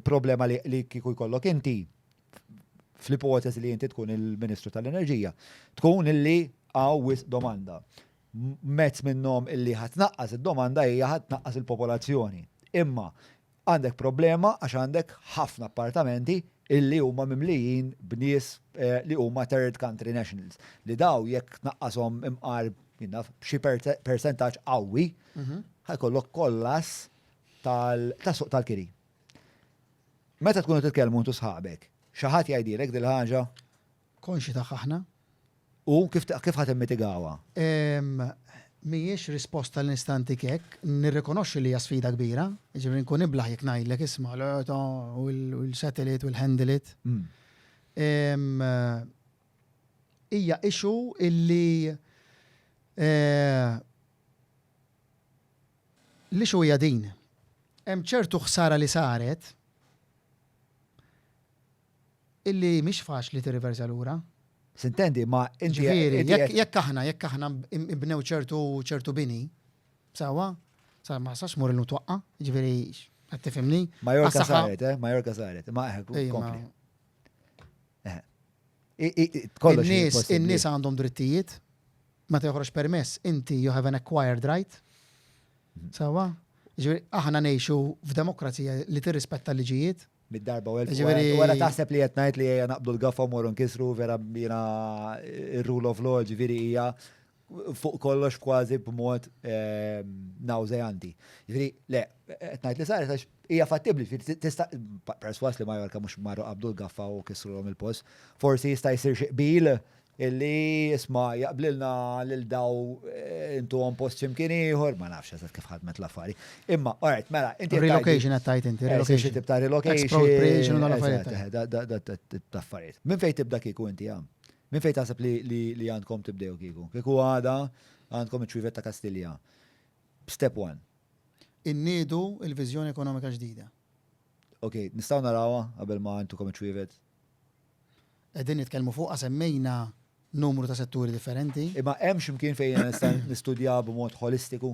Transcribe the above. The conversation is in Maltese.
problema li kieku jkollok inti fl-ipoteżi li inti tkun il-Ministru tal-Enerġija, tkun illi għaw wis domanda. Mezz minnhom illi ħatnaqqas id-domanda hija ħatnaqqas il-popolazzjoni. Imma għandek problema għax għandek ħafna appartamenti illi huma mimlijin b'nies eh, li huma third country nationals. Li daw jekk tnaqqashom imqar xi percentaġġ qawwi, mhm. ħajkollok kollas tas-suq tal-kiri. Meta tkunu titkellmu intu sħabek, xi ħadd jgħidilek din il-ħaġa? Konxji tagħha aħna. U kif ħa timmitigawha? Mhijiex risposta li nista' ntik hekk, nirrikonoxxi li hija sfida kbira, jiġifieri nkun iblah jekk ngħidlek isma' l-eto u l-settle it u l-handle it. Hija issue illi L-issue hija din, hemm ċertu ħsara li saret illi mhix faċli tirriversa lura. Sintendi, imma inti. Ġifieri, jekk aħna, jekk aħna nbnew ċertu bini, sewwa, sa ma sax mur illum twaqqa', ġifieri qed tifhimni. Majorka saret, eh, Majorka saret, imma eħe, kompli. In-nies għandhom drittijiet, ma teħroġ permess, inti you have an acquired right. Mhm. Sawa? Ġifieri aħna ngħixu f'demokrazija li tirrispetta l-liġijiet, mid-darba u l-ġveri. Wara taħseb li jatnajt li jgħan naqbdu l-gaffa mor nkisru vera jina il-rule of law ġveri hija fuq kollox kważi b'mod ehm, nawżejanti. Ġifieri, le, qed ngħid li saret għax hija fattibbli, tista' perswas li Majorka mhux marru qabdu l-gaffa u kisrulhom il-post, forsi jista' jsir xi qbil illi isma jaqblilna lil daw eh, intu għom post ximkien ieħor, ma nafx eżatt kif ħadmet l-affari. Imma, alright, mela, inti. Relocation għat tajt inti, eh, relocation. Tip ta' relocation. Expropriation u l-affarijiet. Eh, Min fejn tibda kieku inti għam? Minn fejn taħseb li għandkom tibdew kieku? Kieku għada għandkom iċ-ċwievet ta' Kastilja. Step one. Inniedu l-viżjoni ekonomika ġdida. Ok, nistgħu narawha qabel ma intukom iċ-ċwievet? Qegħdin nitkellmu fuqha semmejna numru ta' setturi differenti. Imma hemm xi mkien fejn jiena nista' nistudjaha b'mod ħolistiku?